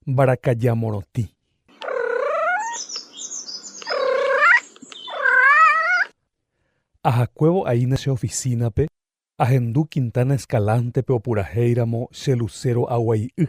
Mbarakaja morotĩ. Ahakuévo aína che ofisínape, ahendu Quintana Escalante-pe opurahéiramo che lucero aguai'y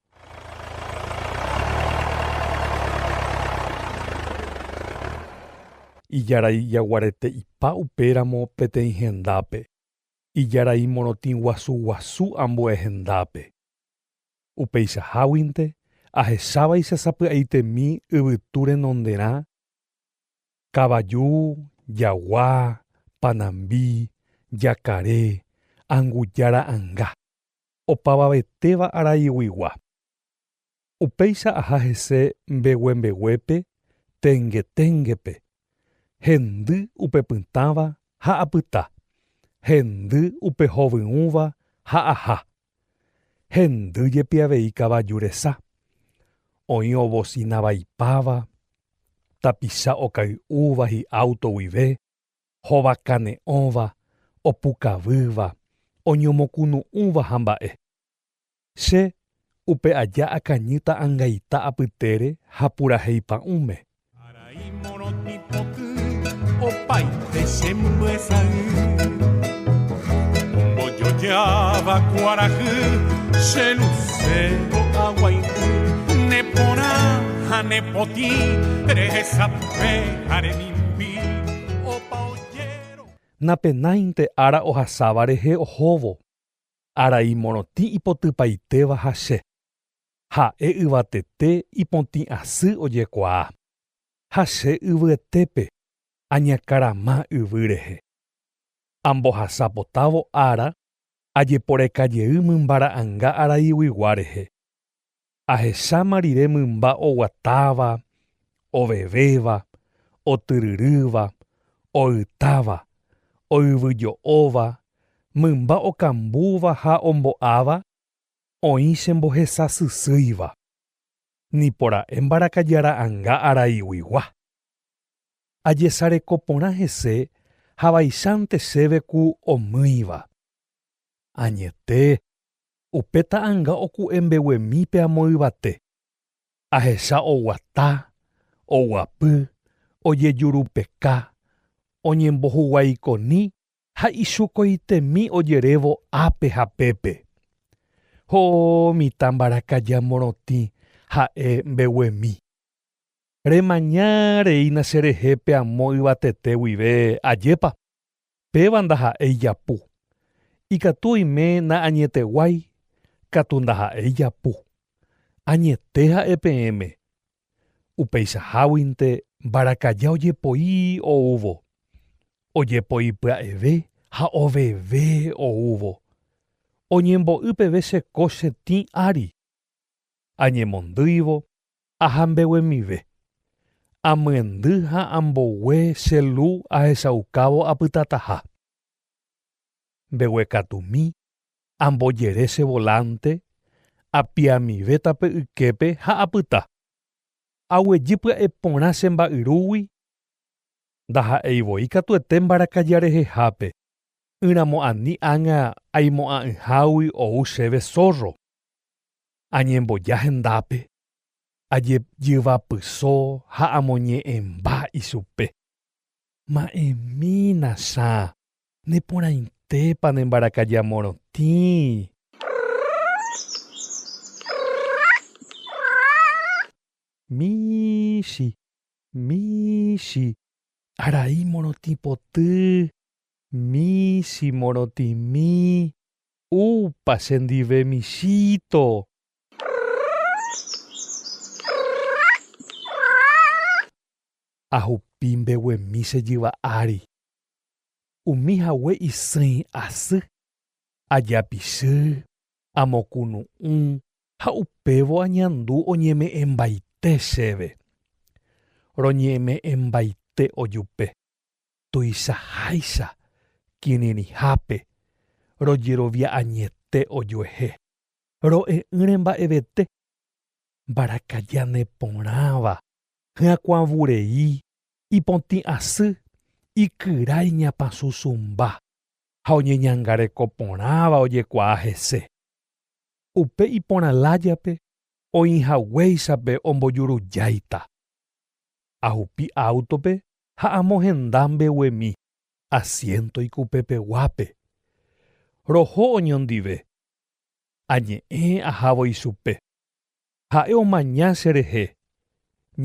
Ijarai jaguarete ipa upéramo peteĩ hendápe, ijarai morotĩ guasu guasu ambue hendápe. Upeichaháguinte, ahechávaicha sapy'aitemi yvytu renonderã, kavaju, jagua, panambi, jakare, anguja ra'anga. opavavetéva araiguigua. Upéicha aha hese mbeguembeguépe tengeténgepe, hendy upe pytãva ha apyta, hendy upe hovyũva ha aha, hendy jepi avei kavaju resa, oĩ ovosina vaipáva, tapicha okay'úva hi'áuto guive, Hova kane'õva, opukavýva, oñomokunu'ũva ha mba'e. Che, upe aja akañýta angaita apytére ha purahéi pa'ũme. Arai morotĩ poty, opaite che mbyesay. Ombojojáva kuarahy, che lucero aguaity. Ne porã ha ne potĩ, rehesape ha remimbi. Napenáinte ára ohasáva rehe ohóvo, arai morotĩ ipotypaitéva ha Che, ha'e yvatete ipotĩ asy ojekuaa, ha Che yvyetépe añakarama yvy rehe. Ambohasa potávo ára ajeporeka jey mymba ra'anga araiguigua rehe, Ahecháma rire mymba oguatáva, ovevéva, otyryrýva, oytáva, oyvyjo'óva, mymba okambúva ha ombo'áva, oĩ che mbohesasysýiva. Nipora'e mbarakaja ra'anga araiguigua. Ajesareko porã hese ha vaichante chéve ku omýiva. Añete, Upe ta'anga oku'e mbeguemi pe amo yvate. Ahecha oguata, oguapy, ojejurupeka, oñembohuguaikoni ha ichukoitemi ojerévo ápe ha pépe. Ho'o mitã mbarakaja morotĩ ha'e mbeguemi. Remaña reína cherehe pe amo yvatete guive, ajépa? Péva ndaha'éi ijapu. Ikatu oime na'añeteguái, katu ndaha'éi ijapu. Añete ha'e peẽme. Upeichaháguinte mbarakaja ojepoi oúvo. Ojepoi pya'eve ha oveve oúvo. Oñembo'y peve che kóche tĩ ári. Añemondýivo Aha mbeguemive. Amyendy ha ambogue che lu ahechaukávo apytataha. Mbeguekatumi, ambojere che volánte, apiamive tape yképe ha apyta. Aguejy pya'e porã che mba'yrúgui, ndaha'éi voi katuete mbarakaja rehehápe, ỹramo ani ág̃a aimo'ã'ỹhágui ou chéve zórro. Añemboja hendápe, ajejyvapyso ha amoñe'ẽmba ichupe. Ma'ẽmína Sã, neporãitépa ne mbarakaja morotĩ? Michĩ, michĩ, arai morotĩ poty, michĩ morotĩmi, Upa che ndive michíto. Ahupi mbeguemi che jyva ári. Umi hague isỹi asy. Ajapichy, amokunu'ũ ha upévo añandu oñeme'ẽmbaite chéve. Roñeme'ẽmbaite ojupe. tuichaháicha kirirĩhápe rojerovia añete ojuehe, ro'e'ỹre mba'evete, mbarakaja neporãva, hyakuãvurei, ipotĩ asy, ikyra iñapãsusumba ha oñeñangareko porãva ojekuaa hese. Upe iporã lájape oĩhaguéichape ombojurujáita Ahupi áutope ha amohenda mbeguemi asiénto ikupepeguápe. Roho oñondive. Añe'ẽ ahávo ichupe. Ha'e omaña cherehe,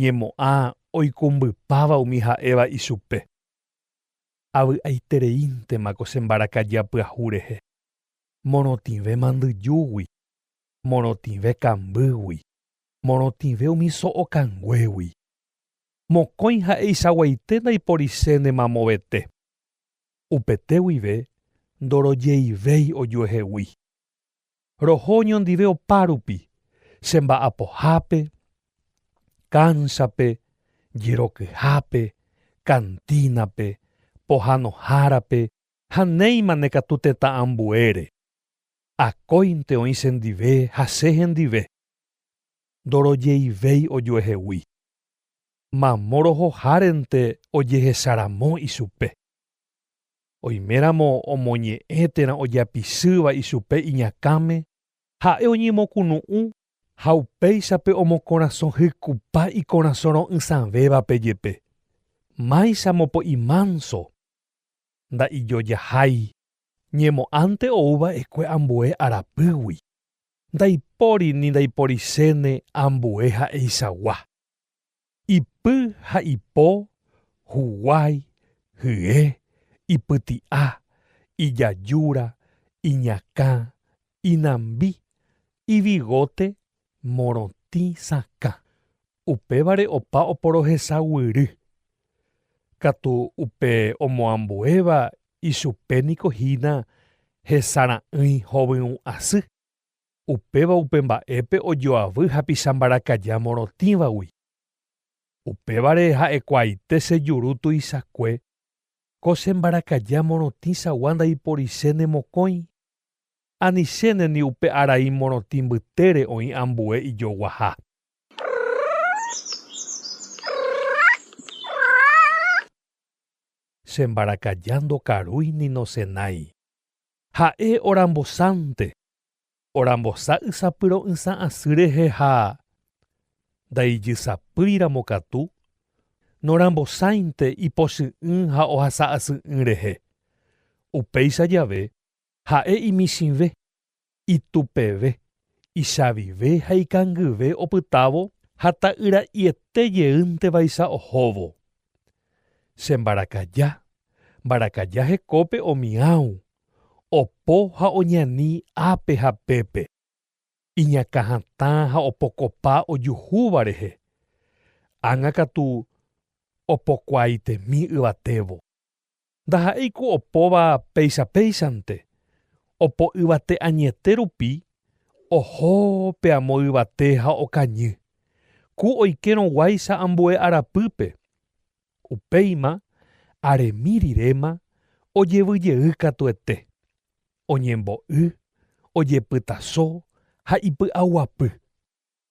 ñemo'ã oikumbypáva umi ha'éva ichupe. Avy'aitereíntema ko che mbarakaja pyahu rehe, morotĩve mandyjúgui, morotĩve kambýgui. Morotĩve umi so'o kanguégui. Mokõi ha'eichaguaite ndaiporisẽne mamovete. Upete guive ndorojeivéi ojuehegui. Roho oñondive opárupi, che mba'apohápe, kánsape, jerokyhápe, kantínape, pohanohárape ha néimane katu tetã ambuére. Akóinte oĩ chendive ha che hendive. ndorojeivéi ojuehegui. Mamo rohohárente ojehecharamo ichupe. Oiméramo omoñe'ẽ térã ojapisýva ichupe iñakãme, ha'e oñemokunu'ũ ha upéichape omokorasõ hykupa ikorasõ ro'ysãvévape jepe. Máicha mopo'i mánso, nda'ijojahái, ñemo'ãnte ou va'ekue ambue arapýgui. Ndaipóri ni ndaiporichéne ambue ha'eichagua, ipy ha ipo, huguái, hye, ipyti'a, ijajúra, iñakã, inambi, ivigote, morotĩ sakã. Upévare opa oporohesa guýry. Katu upe omoambuéva ichupe niko hína hesara'ỹi hovyũ asy, upéva upe mba'épe ojoavy hapicha mbarakaja morotĩvagui. Upévare ha'ekuaaite che juru tuichakue, ko che mbarakaja morotĩchagua ndaiporise ne mokõi, anichéne ni upe arai morotĩ mbytére oĩ ambue ijoguaha. Che mbarakaja ndokarúi ni nosenái. Ha'e orambosánte, orambosa ysapyro'ysã asy rehe ha ndaijysapýiramo katu, norambosáinte ipochy'ỹ ha ohasa asy'ỹ rehe. Upéicha jave, ha'e imichĩve, Itupeve, ichavive ha ikangyve opytávo ha ta'yra'iete jeýntevaicha ohóvo. Che mbarakaja, mbarakaja hekópe omiãu, opo ha oñani ápe ha pépe, iñakã hatã ha opokopa ojuhúva rehe, ág̃akatu opokuaaitemi yvatévo. ndaha'éi ku opóva péicha péichante, opo yvate añete rupi oho pe amo yvate ha okañy, ku oikérõ guáicha ambue arapýpe. Upéima aremi riréma ojevy jey katuete, oñembo'y, ojepytaso ha ipy'aguapy.